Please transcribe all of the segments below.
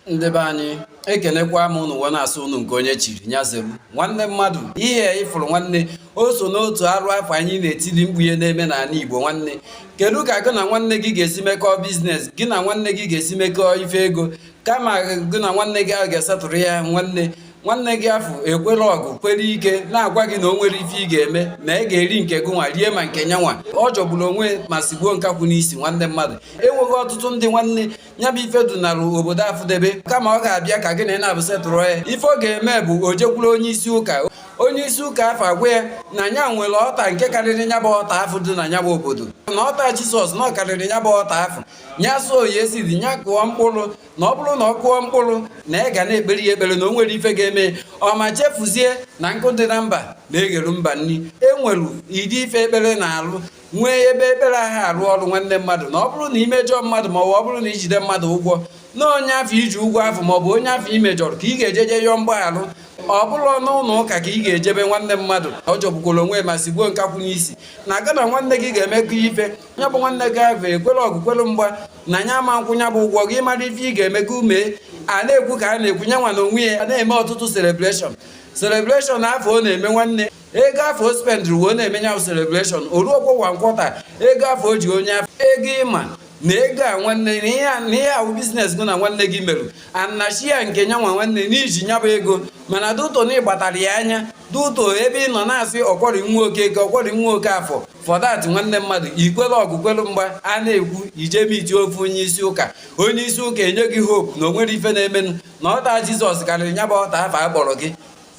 ndị be anyị ekenekwa m ụnụ wee na-asị ụnụ nke onye chiri nya zeru nwanne mmadụ ihe ịfụrụ nwanne o so n'otu arụ afụ anyị na-etili mkpu ihe na-eme n'ala Igbo nwanne kedu ka gị na nwanne gị ga-esi mekọọ business gị na nwanne gị ga-esi mekọọ ife ego kama gị na nwanne gị ahụ ga-esetụrụ ya nwanne nwanne gị afụ ekwere ọgụ kwere ike na-agwa gị na o nwere ife ị ga-eme na ị ga-eri nke gị nwa rie ma nke nyanwa ọ jọgburu onwe ma sigbuo nkakwụ n'isi nwanne mmadụ e nwere ọtụtụ ndị nwanne ya bụ ife dunara obodo afụdebe kama ọ ga-abịa ka gị na ya naabọ setụrụ ya ife ọ ga-eme bụ o jekwuru onye isi ụka onye isi ụka afụ agwa ya na nya nwere altar nke karịrị nya bụ altar afụ dị na nya bụ obodo na altar Jesus na ọ karịrị nya bụ altar afụ nya sow ya seed nya kụọ mkpụrụ na ọ bụrụ na ọ kụọ mkpụrụ na a ga na-ekpere ya ekpere na o nwere ife ga-eme ma chefuzie na nkụ dị na mba na-egheru mba nri enwere ụdị ife ekpere na-alụ nwee ebe ekpere anaghị arụ ọrụ nwanne mmadụ na ọ bụrụ na imejọ mmadụ ma ọ bụrụ na ijide mmadụ ụgwọ na onye afụ iji ụgwọ afụ ma ọ bụ onye afụ imejọrọ ka ị ga-ejeje yọọ mgbaghara ọ bụrọ n'ụlọ ụka ka ị ga-ejebe nwanne mmadụ ọ jọgbukwara onwe ma sigbuo nkakwụ n'isi na gị na nwanne gị ga-emekọ ife ya bụ nwanne gị ahụ ekwere ọgụ kwere mgba na nya ama akwụ ya bụ ụgwọ gị mara ife ị ga-eme ka i mee a na-ekwu ka a na-ekwu nyanwa na onwe ya a na-eme ọtụtụ celebration celebration afụ ọ na-eme nwanne ego afụ o spendịrị wee na-eme ya celebration o ruokwa one quarter ego afụ o ji onye afụ ego ịma na ego a nwanne na ihe ahụ business gị na nwanne gị meru anachi ya nke nya nwa nwanne n'iji nya bụ ego mana due to na ịgbatara ya anya due to ebe ị nọ na-asị ọkwọrị nwoke ego ọkwọrị nwoke afụ for that nwanne mmadụ ikwere ọgụ kwere mgba a na-ekwu ije meetie ofu onye isi ụka onye isi ụka enye gị hope na o nwere ife na-emenụ na altar Jesus karịrị nya bụ altar afụ a kpọrọ gị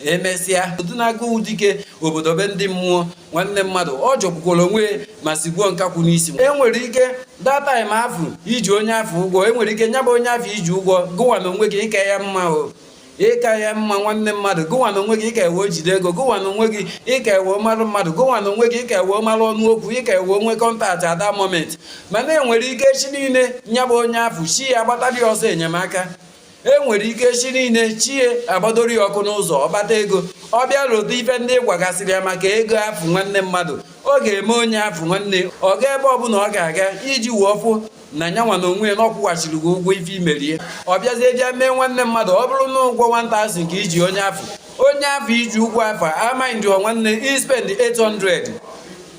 emesịa o duna gụ dike obodo be ndị mmụọ nwanne mmadụ ọ jọgbukwara onwe ma sigbuo nkakwụ n'isi enwere ike that time afụ iji onye afụ ụgwọ enwere ike nya bụ onye afụ iji ụgwọ gụwa na onwe gị ị ka ya mma o ị ka ya mma nwanne mmadụ gụwa na onwe gị ị ka ya wee jide ego gụwa na onwe gị ị ka ya wee mmadụ mmadụ gụwa na onwe gị ị ka ya wee mara ọnụ okwu ị ka ya wee nwee contact at that moment mana enwere ike echi niile nya bụ onye afụ chi ya gbatara ọsọ enyemaka e nwere ike echi niile chi ya agbadoro ya ọkụ n'ụzọ ọ kpata ego ọ bịa lota ife ndị ị gwagasịrị ya maka ego afụ nwanne mmadụ ọ ga-eme onye afụ nwanne ọ ga ebe ọbụla ọ ga-aga iji wee fụ na nyanwa na onwe ya na ọ kwụghachiri gị ụgwọ ife i mere ya ọ bịazie bịa mee nwanne mmadụ ọ bụrụ na ụgwọ 1000 ka iji onye afụ onye afụ iji ụgwọ afụ ama mind nwanne ispend 800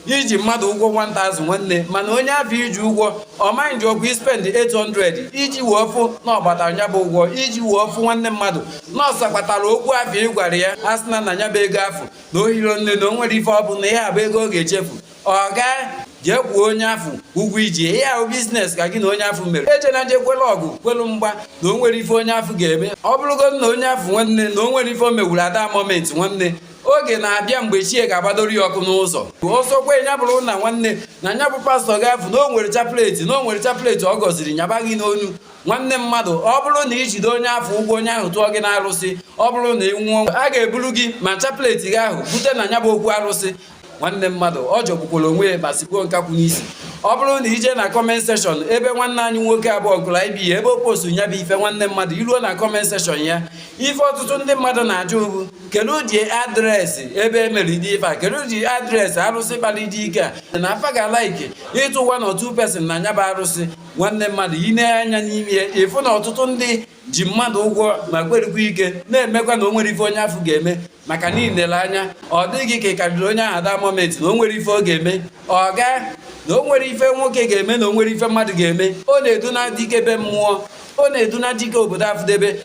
i ji mmadụ ụgwọ 1000 nwanne mana onye afụ i ji ụgwọ ọmaghị nji ọgwụ ispend 800 iji wee fụ na ọ gbata nya bụ ụgwọ iji wee fụ nwanne mmadụ nọọsụ kpatara okwu afụ ị gwara ya a sị na na nya bụ ego afụ na o hiro nne na o nwerọ ife ọ bụ na ihe a bụ ego ọ ga-echefu ọ gaa jee kwụọ onye afụ ụgwọ iji ihe ahụ business ka gị na onye afụ mere eje na je kwelu ọgụ kwelu mgba na o nwerọ ife onye afụ ga-eme ọ bụrụgodi na onye afụ nwanne na o nwerọ ife o mewuru at that moment nwanne oge na-abịa mgbe chi ya ga-agbadoro ya ọkụ n'ụzọ ọ sọkwa ya bụrụ na nwanne na nya bụ pastor gị afụ na o nwere chaplet na o nwere chaplet ọ gọziri nyaba gị n'onu nwanne mmadụ ọ bụrụ na i jide onye afụ ụgwọ onye ahụ tụọ gị n'arụsị ọ bụrụ na ị nwụọ a ga-eburu gị ma chaplet gị ahụ bute na nya bụ okwu arụsị nwanne mmadụ ọ jọgbukwara onwe ya ma sigbuo nkakwụ n'isi ọ bụrụ na i je na comment section ebe nwanne anyị nwoke abụọ nkụrụ anyị bi ya ebe o postu ya bụ ife nwanne mmadụ i ruo na comment section ya ife ọtụtụ ndị mmadụ na-ajụ bụ kedu ụdị address ebe e mere dị ife a kedu ụdị address arụsị kpara dị ike a na fa ga-ala ike ịtụ one or two person na nya bụ arụsị nwanne mmadụ ị nee anya n'ime ya ị fụ na ọtụtụ ndị ji mmadụ ụgwọ ma kwerukwa ike na-emekwa na o nwerọ ife onye afụ ga-eme maka na i lere anya ọ dị gị ka ị karịrị onye ahụ at that moment na o nwerọ ife ọ ga-eme ọ gaa na o nwerọ ife nwoke ga-eme na o nwerọ ife mmadụ ga-eme ọ na-eduna dike be mmụọ ọ na-eduna dike obodo afụdebe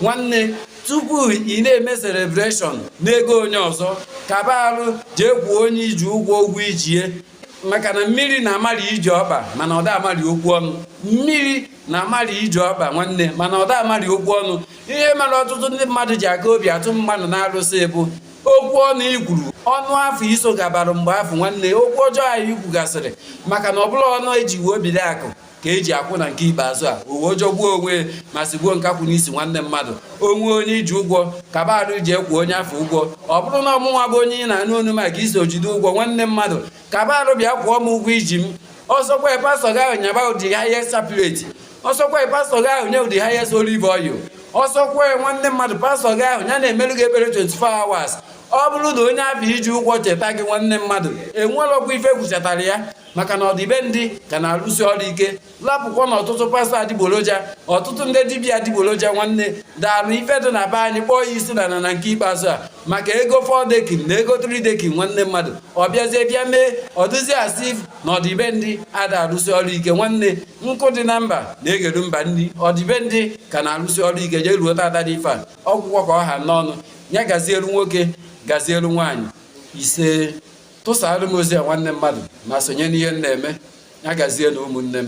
nwanne tupu ị na-eme celebration n'ego onye ọzọ kaba arụ jee kwụọ onye i ji ụgwọ ụgwọ i ji ya maka na mmiri na-amali ije ọkpa mana ọ da amali okwu ọnụ mmiri na-amali ije ọkpa nwanne mana ọ da amali okwu ọnụ ihe mere ọtụtụ ndị mmadụ ji aka obi atụ mmadụ n'arụsị bụ okwu ọnụ i kwuru ọnụ afụ i so gabara mgbe afụ nwanne okwu ọjọọ anyị kwugasịrị maka na ọ bụrọ ọnụ e ji wee biri akụ ka e ji akwụ na nke ikpeazụ a o wee jọgbuo onwe ma sigbuo nkakwụ n'isi nwanne mmadụ o nwee onye i ji ụgwọ kaba arụ jee kwụọ onye afụ ụgwọ ọ bụrụ na ọmụnwa bụ onye ị na-anụ onu m ka i so jide ụgwọ nwanne mmadụ kaba arụ bịa kwụọ m ụgwọ i ji m ọ sọkwa pastor gị ahụ nyaba ụdị ha ihe chaplet ọ sọkwa pastor gị ahụ nye ụdị ha ihe olive oil ọ sọkwa nwanne mmadụ pastor gị ahụ ya na-emelu gị ekpere 24 hours ọ bụrụ na onye abịa i ji ụgwọ cheta gị nwanne mmadụ enwelọkwa ife kwuchatara ya maka na ọdịbendị ka na-arụsi ọrụ ike lapụkwa na ọtụtụ pastor adịgboroja ọtụtụ ndị dibịa adịgboroja nwanne daalụ ife dị na be anyị kpọọ ya isi n'ana nke ikpeazụ a maka ego fọdekin na ego tridekin nwanne mmadụ ọ bịazie bịa mee ọ dịzi a sị na ọdịbendị ada arụsi ọrụ ike nwanne nkụ dị na mba na-egheru mba nri ọdịbendị ka na-arụsi ọrụ ike jee ruo tata dị ife a ọ gwụgo ka ọ ha n'ọnụ ya gazielu nwoke gazielu nwaanyị ise tụsaarụ m ozi a nwanne mmadụ ma sonye n'ihe m na-eme ya gazie na ụmụnne m